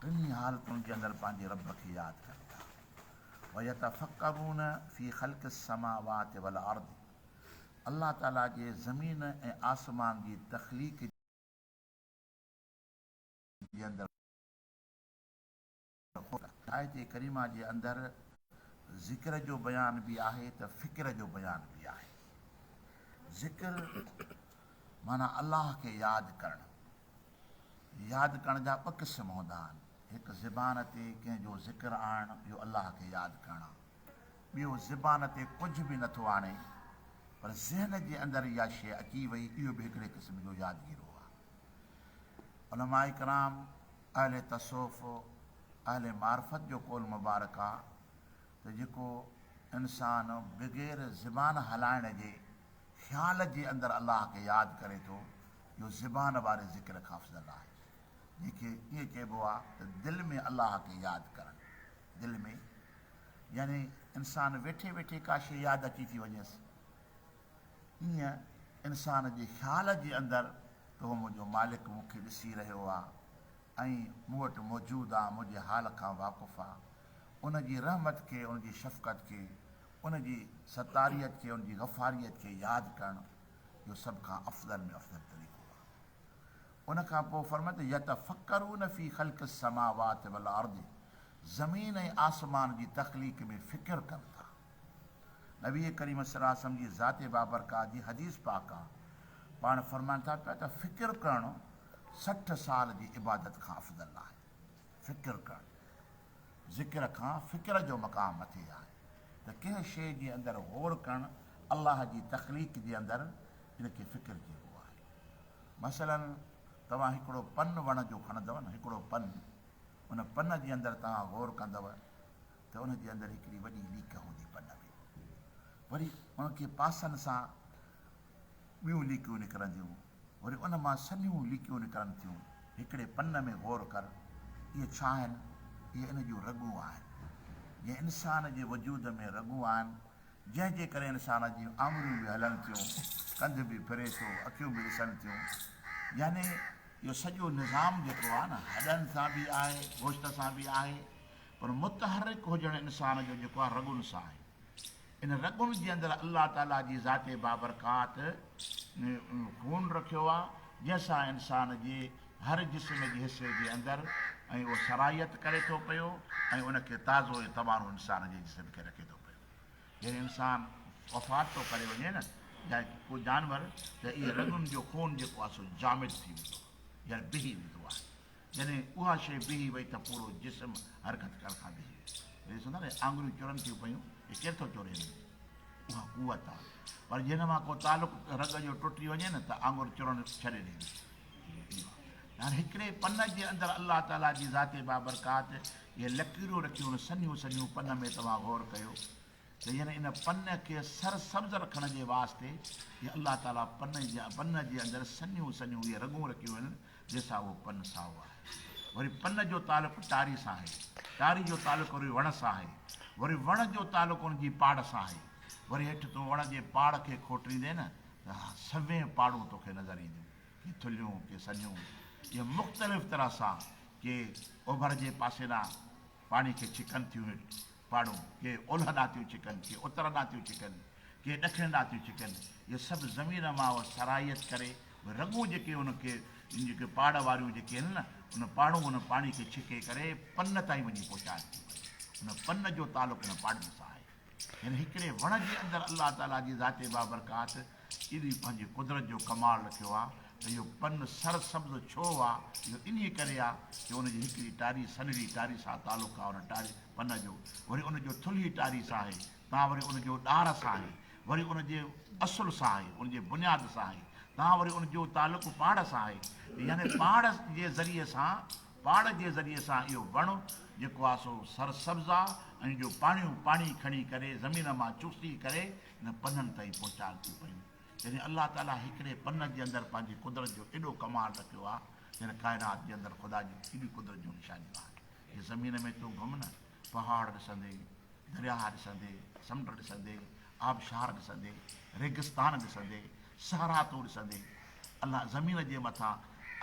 ٽنهي حالتن جي اندر پنهنجي رب کي ياد ڪن ٿا. ويتفڪرون في خلق السماوات والارض الله تعاليٰ جي زمين ۽ آسمان جي تخليق جي اندر غور ڪن ٿا. آيت ڪريمه جي اندر ذڪر جو بيان به آهي ته فڪر جو بيان به آهي. ذڪر معنيٰ الله کي ياد ڪرڻ. ياد ڪرڻ جا ٻه قسم هوندا آهن، هڪ زبان تي ڪنهن جو ذڪر آڻڻ، اهو الله کي ياد ڪرڻ آهي. ٻيو زبان تي ڪجهه به نٿو آڻي، پر ذهن جي اندر اها شيء اچي وئي، اهو به هڪڙي قسم جو يادگيرو آهي. علماء ڪرام، اهل تصوف، اهل معرفت جو قول مبارڪ آهي ته جيڪو انسان بغير زبان هلائڻ جي خيال جي اندر الله کي ياد ڪري ٿو، جو زبان واري ذڪر کان افضل آهي. جنهن کي ائين چئبو آهي ته دل ۾ الله کي ياد ڪرڻ. دل ۾ يعني انسان ويٺي ويٺي ڪا شيء ياد اچي ٿي وڃيس. ائين انسان جي خيال جي اندر ته اهو منهنجو مالڪ مون کي ڏسي رهيو آهي ۽ مون وٽ موجود آهي، منهنجي حال کان واقف آهي. ان جي رحمت کي، ان جي شفقت کي، ان جي ستاريت کي، ان جي غفاريت کي ياد ڪرڻ. جو سڀ کان افضل ۾ افضل طريقو آهي. ان کان پوء فرمايو ته يتفڪرون في خلق السماوات والارض زمين ۽ آسمان جي تخليق ۾ فڪر ڪن ٿا. نبي ڪريم صلي الله عليه وسلم جي ذات بابرڪات جي حديث پاڪ آهي. پاڻ فرمائن ٿا پيا ته فڪر ڪرڻ سٺ سال جي عبادت کان افضل آهي. فڪر ڪرڻ. ذڪر کان فڪر جو مقام مٿي آهي ته ڪنهن شيء جي اندر غور ڪرڻ الله جي تخليق جي اندر ان کي فڪر چئبو آهي. مثلاً توهان هڪڙو پن وڻ جو کڻندؤ نه هڪڙو پن ان پن جي اندر توهان غور ڪندؤ ته ان جي اندر هڪڙي وڏي ليڪ هوندي پن ۾ وري ان کي پاسن سان ٻيون ليڪيون نڪرنديون، وري ان مان سنهيون ليڪيون نڪرن ٿيون. هڪڙي پن ۾ غور ڪر. اهي ڇا آهن؟ اهي ان جون رڳون آهن. جيئن انسان جي وجود ۾ رڳون آهن، جنهن جي ڪري انسان جون آڱريون به هلن ٿيون، ڪنڌ به ڦري ٿو، اکيون به ڏسن ٿيون. يعني اهو سڄو نظام جيڪو آهي نه، هڏن سان به آهي، گوشت سان به آهي، پر متحرڪ هجڻ انسان جو جيڪو آهي، رڳن سان آهي. ان رڳن جي اندر الله تعاليٰ جي ذات بابرڪات خون رکيو آ، جنهن سان انسان جي هر جسم جي حصي جي اندر ۽ اهو سرائيت ڪري ٿو پيو ۽ ان کي تازو ۽ تواڻو انسان جي جسم کي رکي ٿو پيو. جڏهن انسان وفات ٿو ڪري وڃي نه يا ڪو جانور ته اهي رڳن جو خون جيڪو آ سو جامد ٿي ويندو آ يعني بهي ويندو آ. جڏهن اها شيء بيهي وئي ته پورو جسم حرڪت ڪرڻ کان بيهي ويو. ويهي سوندا نه آڱريون چرن ٿيون پيون، هي ڪير ٿو چوري هن ۾ اها قوت آ پر جي هن مان ڪو تعلق رڳ جو ٽٽي وڃي نه ته آڱر چرڻ ڇڏي ڏيندو اهو آ ته هاڻي هڪڙي پن جي اندر الله تعاليٰ جي ذات بابرڪات اهي لڪيرون رکيون آهن سنهيون سنهيون پن ۾ توهان غور ڪيو ته يعني ان پن کي سر سبز رکڻ جي واسطي ئي الله تعاليٰ پن پن جي اندر سنيون سنيون اهي رڳون رکيون آهن، جنهن سان اهو پن سائو آهي. وري پن جو تعلق ٽاري سان آهي، ٽاري جو تعلق وري وڻ سان آهي، وري وڻ جو تعلق ان جي پاڙ سان آهي. وري هيٺ تون وڻ جي پاڙ کي کوٽريندين نه ته سوين پاڙون توکي نظر اينديون، ڪي ٿلهيون، ڪي سنيون، ائين مختلف طرح سان، ڪي اوڀر جي پاسي ڏانهن پاڻي کي ڇڪن ٿيون هيٺ، پاڙو، ڪي اولهه ڏانهن ٿيون ڇڪن، ڪي اتر ڏانهن ٿيون ڇڪن، ڪي ڏکڻ ڏانهن ٿيون ڇڪن، اهي سڀ زمين مان اهو سرائيت ڪري اهي رڳون جيڪي ان کي ان جيڪي پاڙ واريون جيڪي آهن نه ان پاڙون ان پاڻي کي ڇڪي ڪري پن تائين وڃي پهچائڻ ٿيون ڪري ان پن جو تعلق ان پاڙن سان آهي يعني هڪڙي وڻ جي اندر الله تعاليٰ جي ذات بابرڪات اهو ئي پنهنجي قدرت جو ڪمال رکيو آ ته اهو پن سر سبز ڇو آ؟ اهو انهيء ڪري آ جو ان جي هڪڙي ٽاري سنهڙي ٽاري سان تعلق آ، ان ٽاري، پن، جو وري ان جو ٿلهي ٽاري سان آهي، تان وري ان جو ڏار سان آهي، وري ان جي اصل سان آهي، ان جي بنياد سان آهي، تان وري ان جو تعلق پاڙ سان آهي، يعني پاڙ جي ذريعي سان، پاڙ جي ذريعي سان اهو وڻ جيڪو آ سو سر سبز آ ۽ جو پاڻيون پاڻي کڻي ڪري زمين مان چوسي ڪري، نه پنن تائين پهچان ٿيون پيون. يعني الله تعاليٰ هڪڙي پن جي اندر پنهنجي قدرت جو ايڏو ڪمال رکيو آهي، جڏهن ڪائنات جي اندر خدا جون ايڏيون قدرت جون نشانيون آهن. جي زمين ۾ تون گهم نه، پهاڙ ڏسندين، درياهه ڏسندين، سمنڊ ڏسندين، آبشار ڏسندين، ريگستان ڏسندين، صحرا تون ڏسندين. الله زمين جي مٿان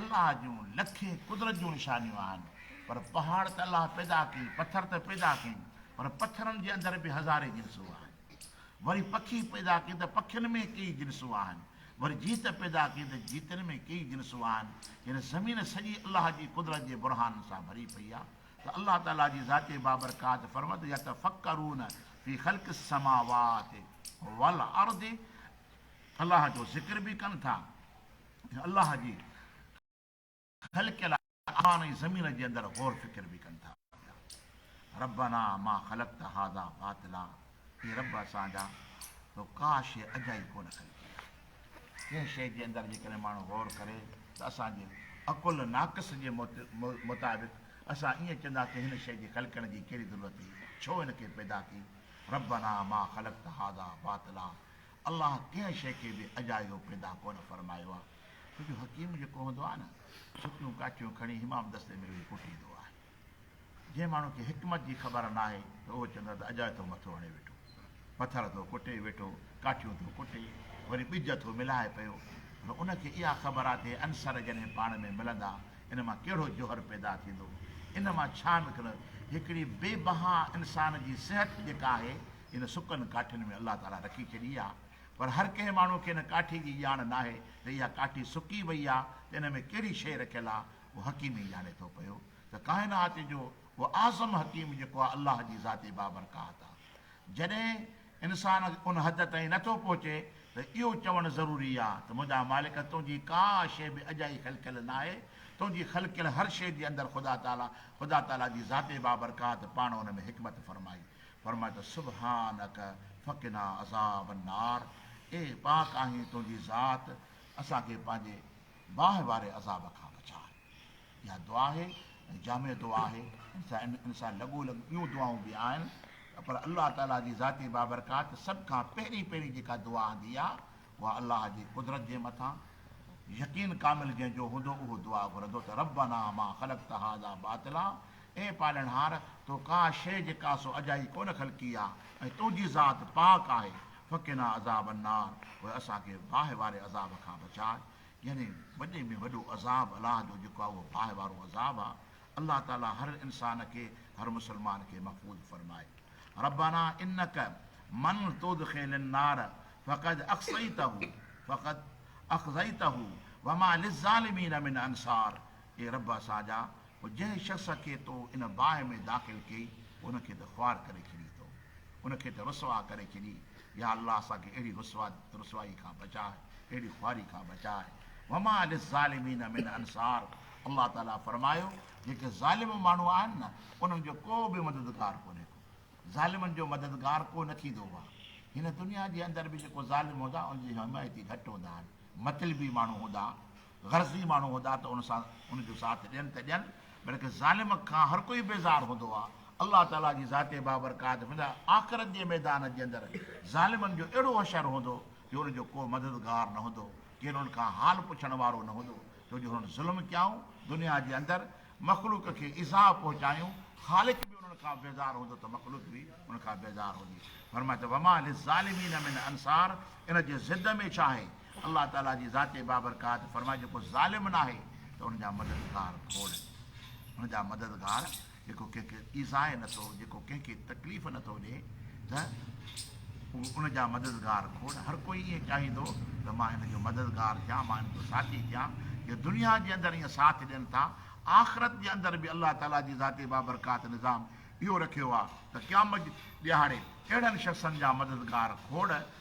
الله جون لکين قدرت جون نشانيون آهن. پر پهاڙ ته الله پيدا ڪيئي، پٿر ته پيدا ڪيئي، پر پٿرن جي اندر به هزارين جنسون آهن. وري پکي پيدا ڪيو ته پکين ۾ ڪيئي جنسون آهن، وري جيت پيدا ڪيو ته جيتن ۾ ڪيئي جنسون آهن، يعني زمين سڄي الله جي قدرت جي برهانن سان ڀري پئي آهي ته الله تعاليٰ جي ذات بابرڪات فرمت يتفڪرون في خلق السماوات والارض الله جو ذڪر به ڪن ٿا ۽ الله جي خلقيل آسمان ۽ زمين جي اندر غور فڪر به ڪن ٿا پيا. ربنا ما خلقت هذا باطلا اي رب اسان جا تو ڪا شيء اجائي ڪونه خلقي آهي. ڪنهن شيء جي اندر جيڪڏهن ماڻهو غور ڪري ته اسان جي عقل ناقص جي مطابق اسان ائين چونداسين هن شيء جي خلقڻ جي ڪهڙي ضرورت هئي ڇو هن کي پيدا ڪئي ربنا ما خلقت هذا باطلا الله ڪنهن شيء کي به اجايو پيدا ڪونه فرمايو آهي، ڇو جو حڪيم جيڪو هوندو آهي نه، سڪيون ڪاٺيون کڻي حمام دستي ۾ ويهي ڪٽيندو آهي. جنهن ماڻهو کي حڪمت جي خبر ناهي ته اهو چوندو آهي ته اجايو ٿو مٿو هڻي ويٺو، پٿر ٿو ڪٽي ويٺو، ڪاٺيون ٿو ڪٽي، وري ٻج ٿو ملائي پيو، پر ان کي اها خبر آهي ته هي عنصر جڏهن پاڻ ۾ ملندا، ان مان ڪهڙو جوهر پيدا ٿيندو، ان مان ڇا نڪرندو. هڪڙي بي بها انسان جي صحت جيڪا آهي، ان سڪن ڪاٺين ۾ الله تعاليٰ رکي ڇڏي آهي پر هر ڪنهن ماڻهو کي ان ڪاٺي جي ڄاڻ ناهي ته اها ڪاٺي سڪي وئي آهي ته ان ۾ ڪهڙي شيء رکيل آهي اهو حڪيم ئي ڄاڻي ٿو پيو ته ڪائنات جو اهو اعظم حڪيم جيڪو آهي الله جي ذات بابرڪات آهي جڏهن انسان ان حد تائين نه ٿو پهچي ته اهو چوڻ ضروري آهي ته منهنجا مالڪ تنهنجي ڪا شيء به اجائي خلقيل ناهي تنهنجي خلقيل هر شيء جي اندر خدا تعاليٰ خدا تعاليٰ جي ذات بابرڪات پاڻ ان ۾ حڪمت فرمائي فرماء ته سبحانک فقنا عذاب النار اي پاڪ آهين تنهنجي ذات اسان کي پنهنجي باهه واري عذاب کان بچاء. اها دعا آهي ۽ جامع دعا آهي ان سان لڳو لڳ ٻيون دعائون به آهن پر الله تعاليٰ جي ذاتي بابرڪات سڀ کان پهرين پهرين جيڪا دعا آندي آهي اها الله جي قدرت جي مٿان يقين ڪامل جنهن جو هوندو اهو دعا گهرندو ته ربنا ما خلقت هذا باطلا اي پالڻهار! تو ڪا شيء جي ڪا سو اجائي ڪونه خلقي آ ۽ تنهنجي ذات پاڪ آهي. فقنا عذاب النار پوء اسان کي باهه واري عذاب کان بچاء. يعني وڏي ۾ وڏو عذاب الله جو جيڪو آ اهو باهه وارو عذاب آ. الله تعاليٰ هر انسان کي، هر مسلمان کي محفوظ فرمائي. ربنا انک من تدخل النار فقد اخزيته فقد اخزيته وما للظالمين من انصار اي رب اسان جا! پوء جنهن شخص کي تو ان باهه ۾ داخل ڪيئي پوء ان کي ته خوار ڪري ڇڏي تو ان کي ته رسوا ڪري ڇڏي يا الله اسان کي اهڙي رسوا رسوائي کان بچاء اهڙي خواري کان بچاء وما للظالمين من انصار الله تعالي فرمايو جيڪي ظالم ماڻهو آهن نه انهن جو ڪو به مددگار ڪونهي ڪو ظالمن جو مددگار ڪو نه ٿيندو هو هن دنيا جي اندر به جيڪو ظالم هوندا ان جي حمايتي گهٽ هوندا آهن مطلبي ماڻهو هوندا غرضي ماڻهو هوندا ته ان سان ان جو ساٿ ڏين ته ڏين، بلڪه ظالم کان هر ڪوئي بيزار هوندو آهي. الله تعاليٰ جي ذات بابرڪات هوندي آخرت جي ميدان جي اندر ظالمن جو اهڙو حشر هوندو جو ان جو ڪو مددگار نه هوندو، ڪين انهن کان حال پڇڻ وارو نه هوندو، ڇو جو هنن ظلم ڪيائون دنيا جي اندر، مخلوق کي ايذاء پهچايون، خالق به انهن کان بيزار هوندو ته مخلوق به ان کان بيزار هوندي. فرمايو ته وما للظالمين من انصار ان جي ضد ۾ ڇا آهي الله تعاليٰ جي ذات بابرڪات فرمائي جيڪو ظالم ناهي ته ان جا مددگار کوڙ ان جا مددگار جيڪو ڪنهن کي ايذائي نٿو جيڪو ڪنهن کي تڪليف نٿو ڏئي ته ان جا مددگار کوڙ هر ڪوئي ائين چاهيندو ته مان هن جو مددگار ٿيان مان هن جو ساٿي ٿيان جو دنيا جي اندر ائين ساٿ ڏين ٿا آخرت جي اندر به الله تعاليٰ جي ذات بابرڪات نظام اهو رکيو آهي ته قيامت جي ڏيهاڙي اهڙن شخصن جا مددگار کوڙ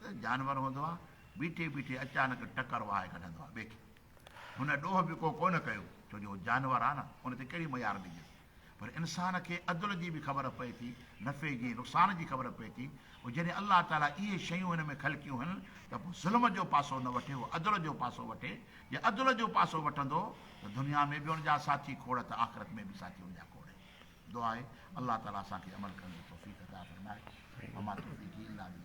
ته جانور هوندو آ، بيٺي بيٺي اچانڪ ٽڪر وهائي ڪڍندو آ ٻئي کي. هن ڏوهه به ڪو ڪونه ڪيو، ڇو جو هو جانور آ نه، ان تي ڪهڙي ميار ڏجيس. پر انسان کي عدل جي به خبر پئي ٿي، نفعي جي، نقصان جي خبر پئي ٿي. پوء جڏهن الله تعاليٰ اهي شيون هن ۾ خلقيون هن ته پوء ظلم جو پاسو نه وٺي، هو عدل جو پاسو وٺي. جي عدل جو پاسو وٺندو ته دنيا ۾ به ان جا ساٿي کوڙ ته آخرت ۾ به ساٿي ان جا کوڙ آهن. دعا آهي الله تعاليٰ اسان کي عمل ڪرڻ جي توفيق عطا فرمائي. وما توفيقي الا بالله.